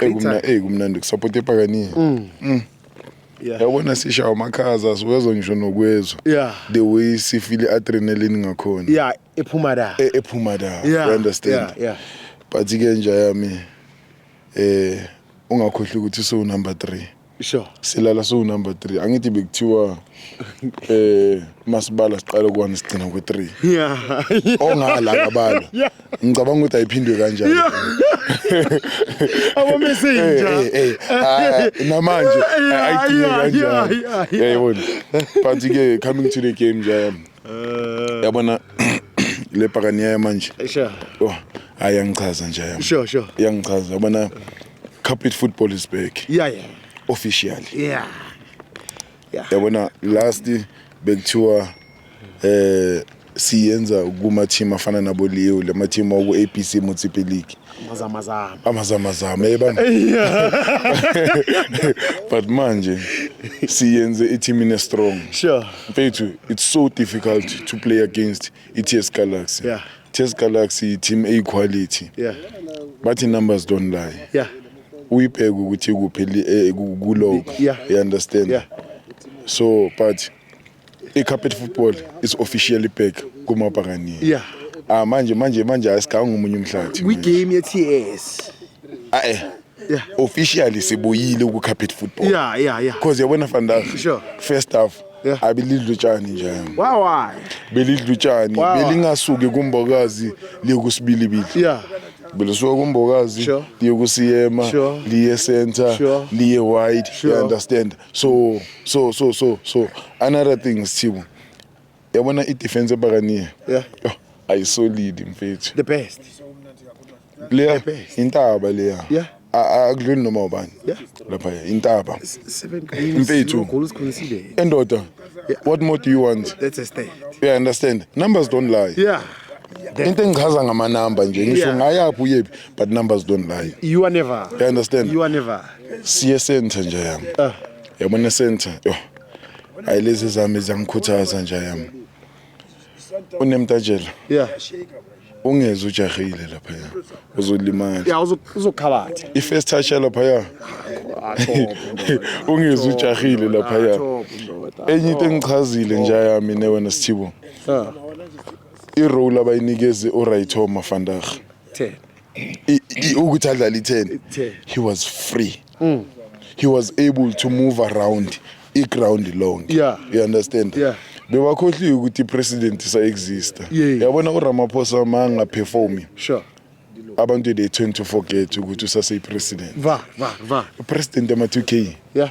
Eyi kumna eyi kumnandi ukusupport epakaniya. Mm. mm. Yeah. Yabona sisha amakhaza siwezwa ngisho nokwezwa. Yeah. The way sifile adrenaline ngakhona. Yeah, ephuma da. E, ephuma da. Yeah. You understand? Yeah, yeah. But ke nje yami eh ungakhohlwa ukuthi so number 3. Sure. Silala siwu number 3. Angithi bekuthiwa eh masibala siqala ku1 sigcina ku3. Yeah. Ongala kabalo. Ngicabanga ukuthi ayiphindwe kanjani. Abo messenger. Eh, eh, eh. Ah, namanje ayiphindwe kanjani. Yayibona. But ke coming to the game nje. Eh. Yabona le pakaniya manje. Sure. Oh, ayangichaza nje. Sure, sure. Yangichaza yabona. Carpet football is back. Yeah yeah. Officially. Yeah. Yeah. Yabona last bekuthiwa eh siyenza kuma team afana nabo Leo lama team oku ABC Motsepe League. Amazama zama. Amazama zama yebamba. But manje siyenze i team ine strong. Sure. Mfethu it's so difficult to play against i-TS Galaxy yeah. TS Galaxy team A quality yeah. bathi numbers don't lie yeah. uyibheke ukuthi kuphi eh, kulog yeah. you understand yeah. so but i-carpet football is officially back kumabhakaniya yeah. ah, manje manje manje asigange omunye umhlathi kwi-game ye-ts ae Yeah. officially sibuyile ku-carpet football Yeah, yeah, yeah. because yabona fandag Sure. first half Yeah. abelidla utshani nje Why why? belidla utshani Wow. belingasuki kumbokazi liye kusibilibili Yeah. belisuka kumbokazi Sure. liye kusiyema Sure. liye center Sure. liye wide Sure. you understand so so so so so another thing sithibo yabona i-defense ebakaniya yeah. oh, ayisolidi mfethu the best leya intaba leya yeah akudluli noma ubani lapha intaba mfethu endoda what more do you want that's a state yeah understand numbers don't lie yeah into engichaza ngamanamba nje ngisho ngayaphi uyephi but numbers don't lie you are never you understand you are never siye center nje yami ah. yabona center yho hayi lezi zami ziyangikhuthaza nja yami unemtajela yeah ungeze ujahile lapha ya uzolimala ya uzokhabatha i first touch lapha ya ungeze ujahile lapha ya enye into engichazile nja yami ne wena sithibo i role abayinikeze u Raytho Mafandaga 10 ukuthi adlala i 10 he was free mm. he was able to move around i-ground long yeah. you understand yeah. bewakhohliwe ukuthi i-president isa-exista yeah. yabona uramaphosa ma angaperformi sure abantu they tend to forget ukuthi usaseyi-president va va va president ama-2 k yeah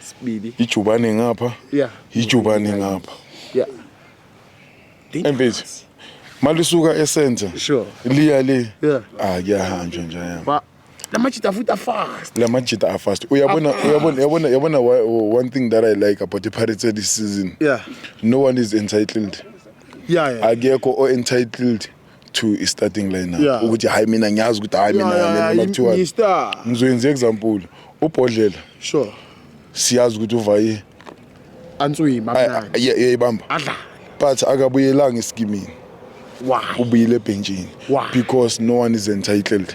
sibili ijubane ngapha yeah ijubane ngapha yeah empezi malisuka esenta sure liya le yeah ah kuyahanjwa nje yami lamajita futhi afast lamajita afast uyabona uyabona uyabona uyabona one thing that i like about the pirates this season yeah no one is entitled yeah, yeah. akekho o entitled to i-starting lineup Yeah. ukuthi hayi mina ngiyazi ukuthi hayi mina Yeah, yeah, yeah, mina kuthiwa ngi-star. ngizoyenza example ubhodlela sure siyazi ukuthi uvaye answima ay- mnandi ay- ay- yayibamba adlala but akabuyelanga esikimini why ubuyile ebhentshini Why? because no one is entitled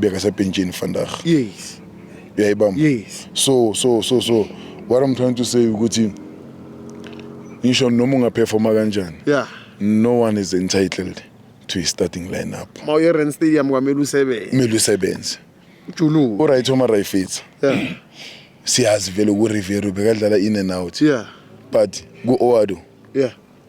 bekasebhentshini vandag yes uyayibamba yes so so so so what i'm trying to say ukuthi ngisho noma ungaperforma kanjani yeah no one is entitled to his starting lineup mawuye rand stadium kwamele usebenze kumele usebenze julu uright uma rayfitha yeah siyazi vele ku rivero bekadlala in and out yeah but ku oado yeah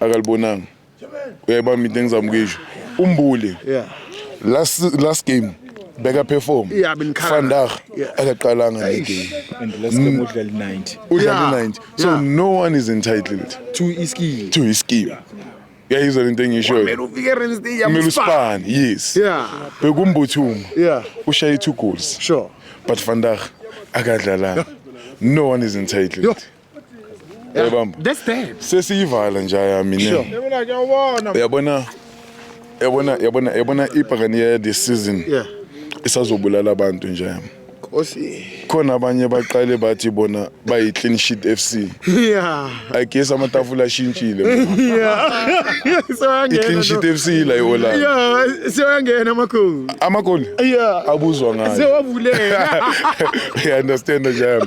akalibonanga uyayibamba into engizama ukuyisho umbuli yeah last last game beka perform yeah vandag akaqalanga le game and last game mm. udlala 90 udlala 90 so no one is entitled to iskill to iskill yayizwa lento engishoyo kumele uspan yes yeah bekumbuthuma yeah ushaye two goals sure but vandag akadlalanga no one is entitled uyabamba That's bad. sesiyivala nje yami ne uyabona yabona yabona yabona ibhakani ya this season Yeah. isazobulala abantu nje yami Nkosi. khona abanye baqale bathi bona bayi clean sheet FC Yeah. i guess amatafula ashintshile i clean sheet Soyangena. FC ila iOlanda Yeah, soyangena amakhulu. amagoli Yeah. abuzwa ngayo Sewavuleka. you understand nje yami